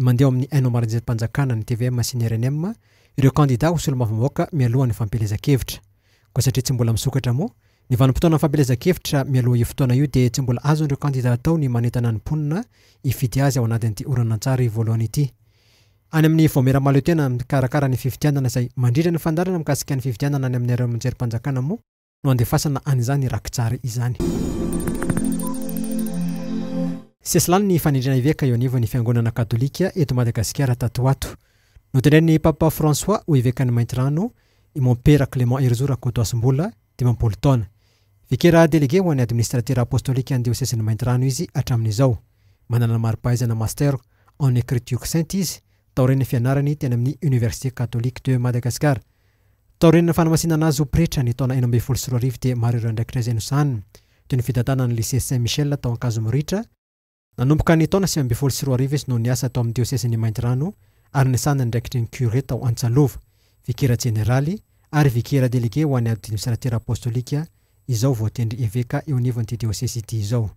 Mandeha ao amin'ny haino aman-jerim-panjakana, ny tvm sy ny rnm, ireo kandidà ho solombavambahoaka mialohan'ny fampielezan-kevitra. Koa satria tsy mbola misokatra moa, ny vanim-potoanan'ny fampielezan-kevitra mialoha io fotoana io dia tsy mbola azon'ireo kandidà atao ny manentana ny mponina hifidy azy ao anatin'ity horonantsary voalohany ity. Any amin'ny Vaomiera Mahaleotena mikarakara ny fifidianana izay mandrindra ny fandaharana mikasika ny fifidianana any amin'ny haino aman-jerim-panjakana moa, no andefasana an'izany rakitsary izany. Sesilany ny fanendrena eveka eo anivon'ny Fiangonana Katolika eto Madagasikara tato ho ato. Notendren'ny Papa François ho evekan'i Maintirano i Mompera Clément Herizo Rakotoasimbola, dimampolo taona. Vikera delege ho an'ny Administratera Apostolika ny Diosezin'i Maintirano izy hatramin'izao. Manana ny mari-pahaizana Master en Ecriture Sainte izy, taorian'ny fianarany teny amin'ny Université Catholique de Madagascar. Taorian'ny fanamasinana azy ho pretra ny taona enina ambin'ny folo sy roa arivo dia maro ireo andraikitra izay nosahaniny, toy ny fitantanana ny Lycée Saint Michel tao Ankazomoritra, Nanomboka ny taona sivy ambin'ny folo sy roa arivo izy no niasa tao amin'ny diosezin'i Maintirano ary nisahana ny andraikitry ny curé tao Antsalova, vikera jeneraly ary vikera delege ho an'ny ady minisitera apostolika, izao voatendry eveka eo anivon'ity diosesy ity izao.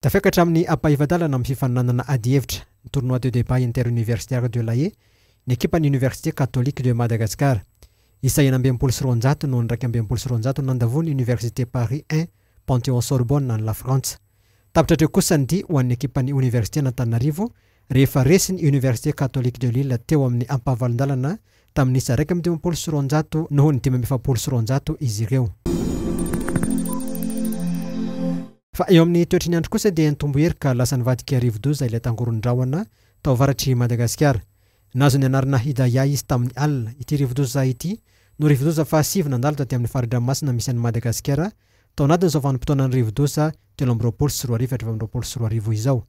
Tafiakatra amin'ny ampahefa-dalana amin'ny fifaninanana adihevitra, ny Tournoi de débat interuniversitaire de La Haye, ny ekipan'ny Université Catholique de Madagascar. Isa enina amby enimpolo sy roanjato no an'iraika amby enimpolo sy roanjato nandavo ny Université Paris I, Panthéon Sorbonne any Lafrantsa. Tapitra hatreo kosa ny dia ho an'ny ekipan'ny Oniversiten'Antananarivo rehefa resy ny Université Catholique de Lille teo amin'ny ampahavalon-dalana tamin'ny isa iraika amby dimampolo sy roanjato noho ny dimy amby efapolo sy roanjato izy ireo. Fa eo amin'ny toetry ny andro kosa dia nitombo hery ka lasa nivadika rivo-doza ilay tangoron-drahona tao avaratr'i Madagasikara. Nahazo ny anarana Hidayah izy tamin'i Allah. Ity rivodoza ity no rivodoza fahasivy nandalo taty amin'ny fari-dranomasina misy an'i Madagasikara tao anatin'izao vanim-potoanan'ny rivodoza telo amby roapolo sy roa arivo hatramin'ny roapolo sy roa arivo izao.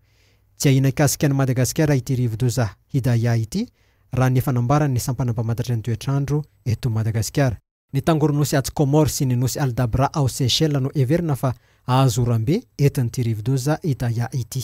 Tsy ahiana hikasika an'i Madagasikara ity rivodoza Hidayah ity raha ny efa nambaran'ny sampana mpamantatra ny toetr'andro eto Madagasikara. Ny tangoronosy atsy Comores sy ny nosy Aldabra ao Seychelles no heverina fa hahazo oram-be entin'ity rivodoza Hidayah ity.